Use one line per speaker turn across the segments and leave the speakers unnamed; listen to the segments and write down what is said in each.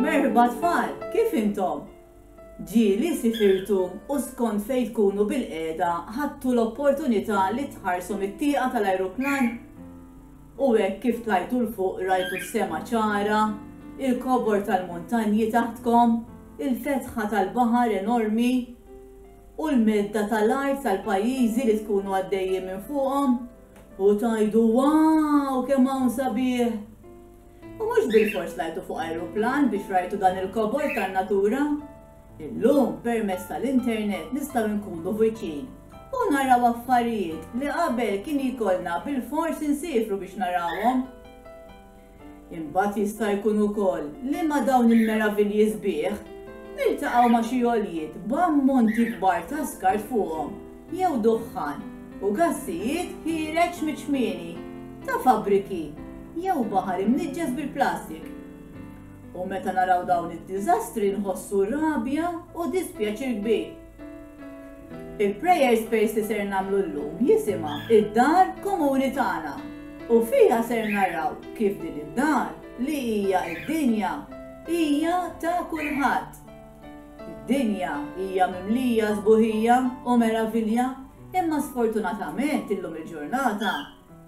Merħba tfal, kif intom? Ġieli sifirtu u skont fejn tkunu bil-qiegħda ħadtu l-opportunità li tħarsu mit-tieqa tal-ajruplan? U hekk kif tlajtu 'l fuq rajtu s-sema ċara, il-kobor tal-muntanji taħtkom, il-fetħa tal-baħar enormi, u l-medda tal-art tal-pajjiżi li tkunu għaddejjin minn fuqhom? U tgħidu waw kemm hawn sabiħ! U mhux bilfors tlajtu fuq ajruplan biex rajtu dan il-kobor tan-natura. Illum permezz tal-internet nistgħu nkunu viċin u naraw affarijiet li qabel kien jkollna bilfors insiefru biex narawhom. Imbagħad jista' jkun ukoll li ma' dawn il-meravilji sbieħ, niltaqgħu ma' xi għoljiet b'ammonti kbar ta' skart fuqhom jew duħħan u gassijiet ħiereġ miċ-ċmieni ta' fabbriki jew baħar imniġġes bil-plastik. U meta naraw dawn id-diżastri nħossu rabja u dispjaċir kbir. Il-prayer space li ser nagħmlu llum jisimha id-dar komuni tagħna u fiha ser naraw kif din id-dar li hija d-dinja hija ta' kulħadd. Id-dinja hija mimlija sbuħija u meravilja imma sfortunatament illum il-ġurnata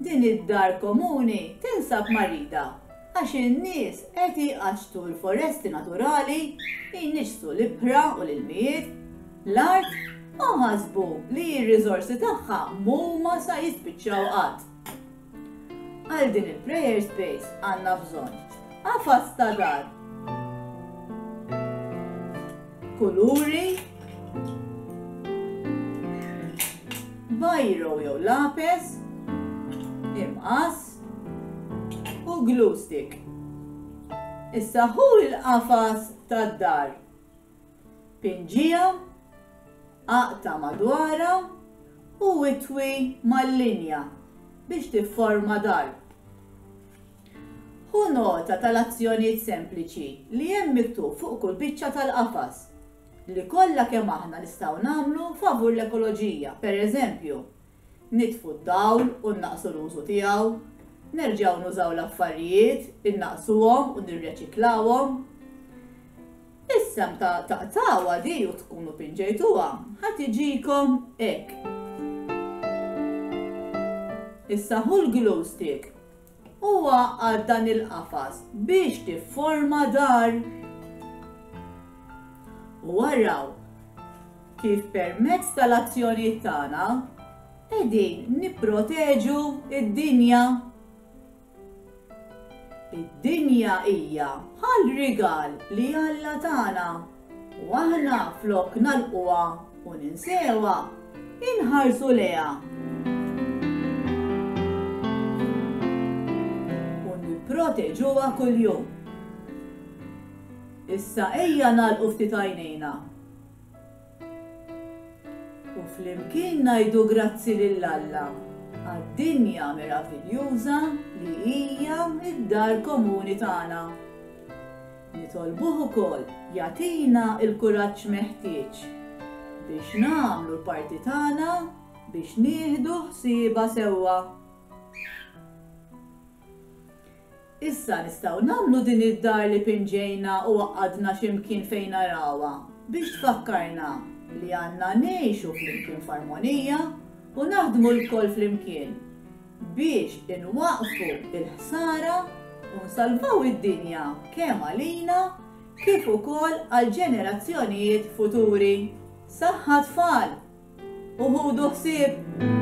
Din id-dar komuni tinsab marida għax in-nies qed iqaxxtu l-foresti naturali, jniġġsu l-ibħra u l-ilmijiet, l-art u ħasbu li r-riżorsi tagħha mhuma sa jispiċċaw qatt. Għal din il-prayer space għandna bżonn qafas ta' dar. kuluri, bajro jew lapes, imqas u glue stick. Issa hu l-qafas tad-dar. Pinġija, aqta madwara u itwi mal-linja biex tifforma dar. Ħu nota tal-azzjonijiet sempliċi li hemm miktub fuq kull biċċa tal-qafas, li kollha kemm aħna nistgħu nagħmlu favur l-ekoloġija, pereżempju, nitfu d-dawl u nnaqqsu l-użu tiegħu, nerġgħu nużaw l-affarijiet, innaqqsuhom u nirreċiklawhom. Is-sehem taqtgħuha di u tkunu pinġejtuha, ħa tiġikom hekk. Issa ħu l-glue stick u għaqqad dan il-qafas biex tifforma dar. U araw kif permezz tal-azzjonijiet tagħna qegħdin nipproteġu id-dinja. Id-dinja hija bħal rigal li Alla tagħna. U aħna flok nagħlquha u ninsewha, inħarsu lejha. U nipproteġuha kuljum. Issa ejja nagħlqu ftit għajnejna. U flimkien ngħidu grazzi lil Alla għad-dinja meraviljuża li hija d-dar komuni tagħna. Nitolbuh ukoll jagħtina l-kuraġġ meħtieġ biex nagħmlu l-parti tagħna biex nieħdu ħsiebha sewwa. Issa nistgħu nagħmlu din id-dar li pinġejna u għaqqadna xi mkien fejn narawha biex tfakkarna li għandna ngħixu flimkien f'armonija u naħdmu lkoll flimkien. biex inwaqqfu l-ħsara u nsalvaw id-dinja kemm għalina kif ukoll għall-ġenerazzjonijiet futuri. Saħħa tfal! U ħudu ħsieb!